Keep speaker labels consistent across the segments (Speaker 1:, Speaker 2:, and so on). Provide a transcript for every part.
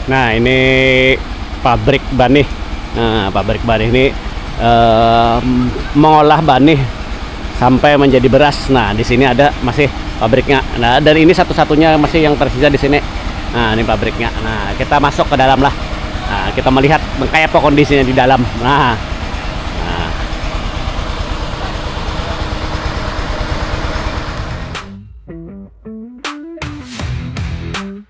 Speaker 1: Nah ini pabrik banih. Nah pabrik banih ini eh, mengolah banih sampai menjadi beras. Nah di sini ada masih pabriknya. Nah dan ini satu-satunya masih yang tersisa di sini. Nah ini pabriknya. Nah kita masuk ke dalam lah. Nah kita melihat kayak apa kondisinya di dalam. Nah, nah.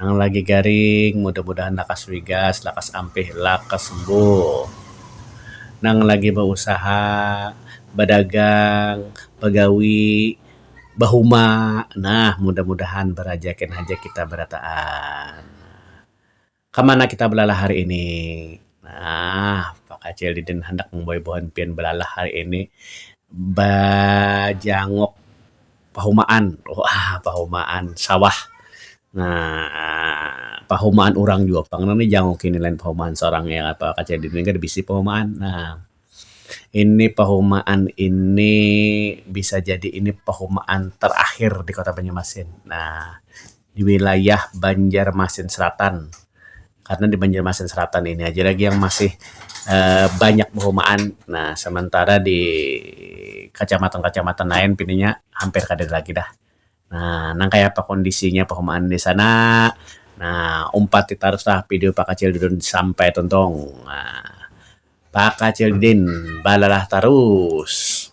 Speaker 2: Nang lagi garing mudah-mudahan lakas wigas, lakas ampih, lakas sembuh. Nang lagi bausaha, badagang, bagawi, bahuma, nah mudah-mudahan barajakin haja kita barataan. Kamana kita balalah hari ini? Nah, Pakacil Didin handak mambawa buhan pian balalah hari ini bajanguk pahumaan. Wah, pahumaan sawah. Nah, pahumaan urang jua pang nang dijanguki ni lain pahumaan sorang ya kah Pakacil Didin kada bisi pahumaan. Nah, Ini pahumaan ini bisa jadi ini pahumaan terakhir di Kota Banjarmasin. Nah, di wilayah Banjarmasin Selatan. Karena di Banjarmasin Selatan ini aja lagi yang masih eee banyak pahumaan. Nah, sementara di kacamatan-kacamatan lain pinanya hampir kada ada lagi dah. Nah, nang kaya apa kondisinya pahumaan di sana? Nah, umpati taruslah video Pakacil Didin sampai tuntung. Nah, Pakacil Didin balalah tarus.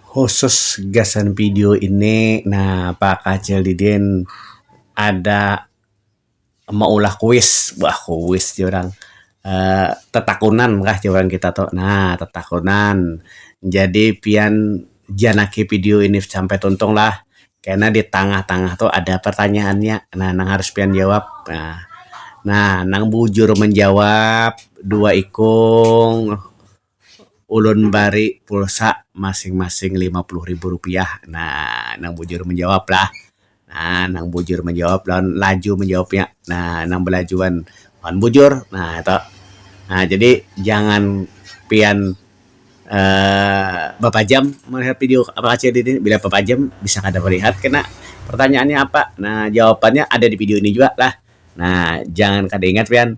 Speaker 2: Khusus gasan video ini, nah Pakacil Didin ada maulah kuis bah kuis jar orang uh, tetakunan kah jar orang kita tuh nah tetakunan jadi pian janaki video ini sampai tuntung lah karena di tengah-tengah tuh ada pertanyaannya nah nang harus pian jawab nah nah nang bujur menjawab dua ikung ulun bari pulsa masing-masing lima puluh ribu rupiah. Nah, nang bujur manjawab lah. Nah, nang bujur manjawab lawan laju manjawabnya. Nah, nang balajuan lawan bujur. Nah, itu. Nah, jadi jangan pian uh, bapajam melihat video apakah di ini. Bila bapajam, bisa kada melihat kena pertanyaannya apa. Nah, jawabannya ada di video ini juga lah. Nah, jangan kada ingat pian.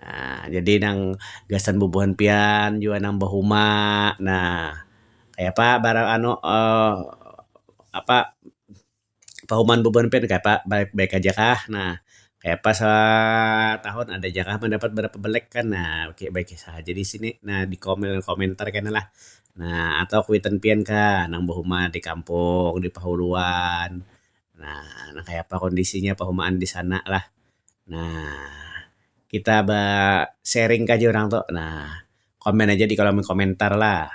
Speaker 2: Nah, jadi nang gasan bubuhan pian jua nang bahuma. Nah, kaya apa barang anu uh, apa pahumaan bubuhan pian kaya apa baik-baik aja kah? Nah, kaya apa satahun ada ja kah mandapat barapa belek kan? Nah, baik-baik sahaja di sini. Nah, di komentar kena lah. Nah, atau kuitan pian kah nang bahuma di kampung, di pahuluan. Nah, nah kaya apa kondisinya pahumaan di sana lah. Nah, kita ba sharing ka ja urang tu. Nah, komen aja di kolom komentar lah.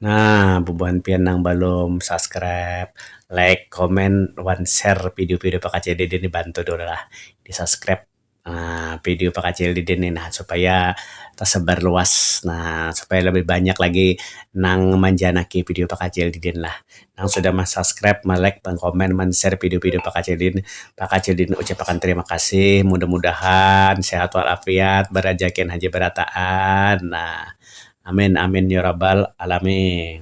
Speaker 2: Nah, bubuhan pian nang balum subscribe, like, comment, wan share video-video pakcdede ni bantu dulu lah. Di subscribe Nah, video pakacil didin nih nah supaya tasabar luas. Nah, supaya labih banyak lagi nang manjanaki video pakacil didin lah. Nang sudah mansubscribe, malike, mankomen, manshare video-video pakacil didin, pakacil didin ucapakan tarima kasih. Mudah-mudahan sehat wal afiat, barajakian haja barataan. Nah, amin amin ya rabbal alamin.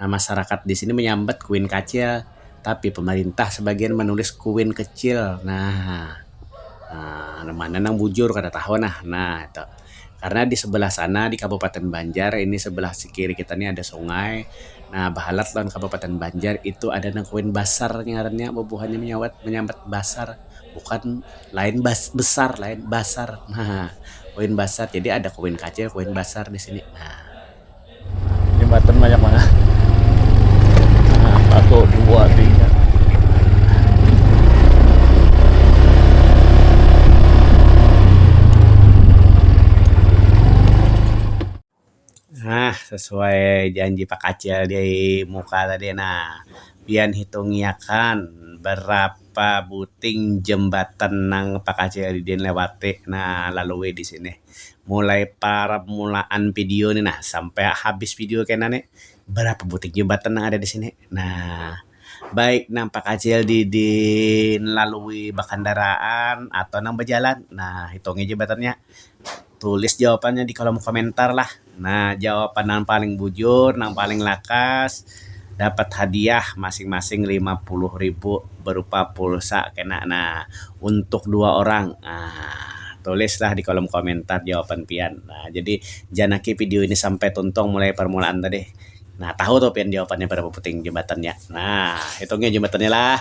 Speaker 2: Nah masarakat di sini menyambat kuin kacil, tapi pemerintah sebagian menulis kuin kecil. Nah, nang mana nang bujur kada tahu nah. Nah itu, karena di sebelah sana di Kabupaten Banjar ini sebelah kiri kita ni ada sungai, nah bahalat lawan Kabupaten Banjar itu ada nang kuin basar ngarannya bubuhannya menyawat menyambat basar bukan lain bas besar lain basar nah, kuin basar. Jadi ada kuin kacil, kuin basar di sini nah.
Speaker 1: jembatan banyak banget nah, satu dua tiga
Speaker 2: Nah, sesuai janji Pak Kacil di muka tadi. Nah, pian hitungiakan berapa buting jembatan nang Pak Kacil didin lewati. Nah, lalui di sini. mulai parmulaan video ni nah sampai habis video kena ni berapa buting jembatan nang ada di sini nah baik nang pakacil di di lalui bakandaraan atau nang bajalan nah hitungi jembatannya tulis jawapannya di kolom komentar lah. Nah, jawapan nang paling bujur, nang paling lakas dapat hadiah masing-masing lima puluh ribu berupa pulsa kena nah untuk dua orang. Nah, tulislah di kolom komentar jawapan pian. Nah, jadi jangan aki video ini sampai tuntung mulai permulaan tadi. Nah, tahu tuh pian jawapannya berapa puting jembatannya. Nah, hitungnya jembatannya lah.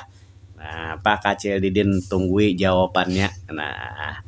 Speaker 2: Nah, Pak Kacil Didin tunggui jawapannya. Nah.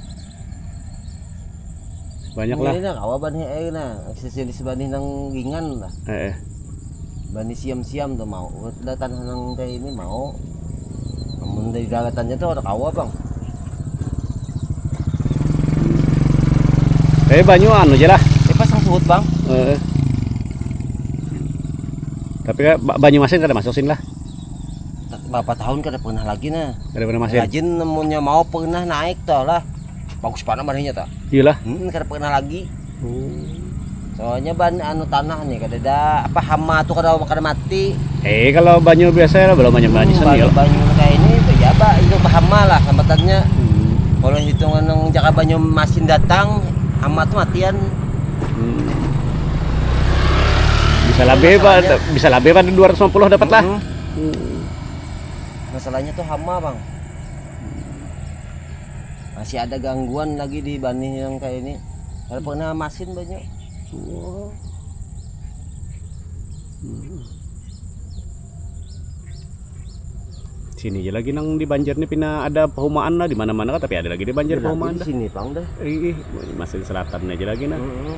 Speaker 1: Banyak lah. Ini kawa banih eh
Speaker 3: nah, spesialis banih nang gingan lah. Eh, eh. Banih siam-siam tuh mau. Udah tanah nang teh ini mau. Namun dari galatannya tuh ada kawa bang.
Speaker 1: Eh banyu anu aja lah. Eh pasang surut bang.
Speaker 3: Eh. eh.
Speaker 1: Tapi kan banyu masin kada masuk sini lah. berapa
Speaker 3: tahun kada pernah lagi nah kada pernah masih rajin
Speaker 1: nemunya mau
Speaker 3: pernah naik toh lah bagus banget marinya toh iyalah hmm, kada pernah
Speaker 1: lagi
Speaker 3: hmm. soalnya ban anu tanah nih kada ada apa hama tuh kada kada mati eh kalau banyu
Speaker 1: biasa ya belum banyak banyak hmm, banyu, ya. banyu kayak ini
Speaker 3: ya pak itu hama lah hambatannya hmm. kalau hitungan yang jaka banyu masin datang hama tuh matian hmm. bisa lebih pak bisa lebih pak 250 dapat lah hmm. Masalahnya tuh hama bang Masih ada gangguan lagi di banih yang kayak ini Kalau pernah masin banyak oh. hmm.
Speaker 1: Sini aja lagi nang di Banjar nih pina ada perumahan lah di mana-mana kan tapi ada lagi di Banjar ya, perumahan. Di sini bang dah. Ih,
Speaker 3: masin
Speaker 1: selatan aja lagi nah. Mm -hmm.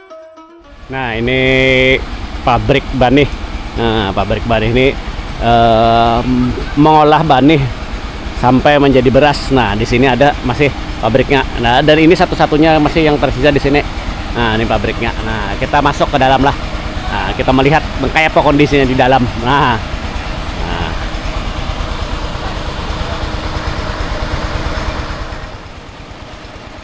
Speaker 1: Nah ini pabrik banih. Nah pabrik banih ini eh, mengolah banih sampai menjadi beras. Nah di sini ada masih pabriknya. Nah dan ini satu-satunya masih yang tersisa di sini. Nah ini pabriknya. Nah kita masuk ke dalam lah. Nah kita melihat kayak apa kondisinya di dalam. Nah. nah.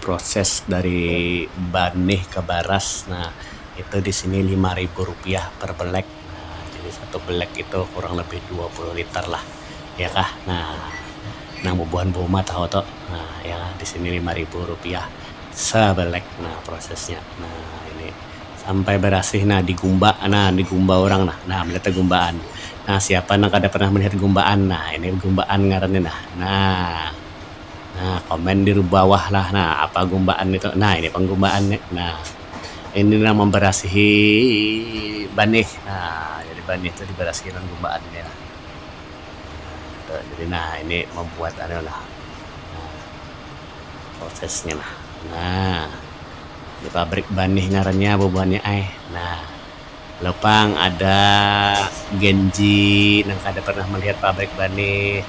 Speaker 1: Proses dari banih ke baras ne itu di sini lima ribu rupiah per belek. Jadi satu belek itu kurang lebih dua puluh liter lah iya kah uhh nang bubuhan beumah tahu tu uhh iya di sini lima ribu rupiah sebelek proses nya. Sampai barasih nah digumba nah digumba urang nah nah melihat gumbaan nah siapa nang kada pernah melihat gumbaan nah ini gumbaan ngarannya nah nah nah
Speaker 2: komen di bawah lah nah apa gumbaan itu nah ini pang gumbaan nya nah ini nang memberasihi banih nah jadi banih tu dibarasihi lawan gumbaan nya lah nah itu jadi nah ini membuat anu lah nah. prosesnya nah nah di pabrik ban nih ngarannya bubuhannya ai nah lo pang ada genji nang kada pernah melihat pabrik ban nih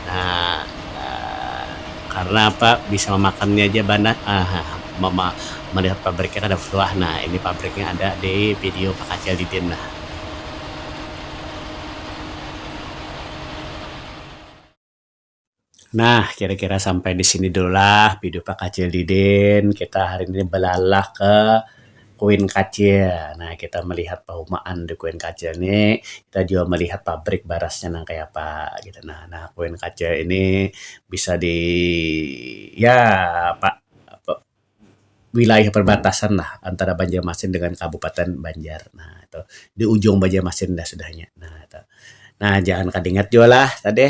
Speaker 2: nah karena apa bisa memakannya aja ban nah mama melihat pabriknya kada suah nah ini pabriknya ada di video pakacil didin nah. Nah, kira-kira sampai di sini dulu lah video Pak Kacil Didin. Kita hari ini belalah ke Kuin Kacil. Nah, kita melihat perumahan di Kuin Kacil ini. Kita juga melihat pabrik barasnya nang kaya apa. Gitu. Nah, nah, Kuin Kacil ini bisa di... Ya, Pak... wilayah perbatasan lah antara Banjarmasin dengan Kabupaten Banjar nah itu di ujung Banjarmasin dah sudah nya nah itu nah jangan kada ingat jua lah tadi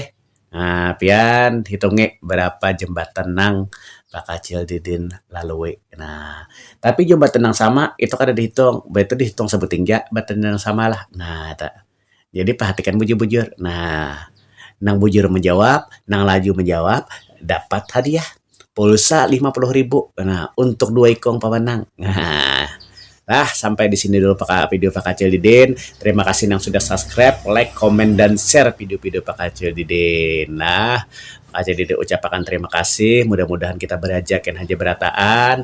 Speaker 2: um pian hitungi berapa jembatan nang bakacil didin lalui nah tapi jembatan nang sama itu kada dihitung ba itu dihitung sabuting ja jembatan nang sama lah nah itu. Jadi perhatikan bujur-bujur. Nah, nang bujur menjawab, nang laju menjawab dapat hadiah pulsa lima puluh ribu. Nah, untuk dua ikung pemenang. Nah, nah sampai di sini dulu Pak video Pak Kacil Didin. Terima kasih yang sudah subscribe, like, komen dan share video-video Pak Kacil Didin. Nah, Pak Kacil Didin ucapakan terima kasih. Mudah-mudahan kita beraja ken haja berataan.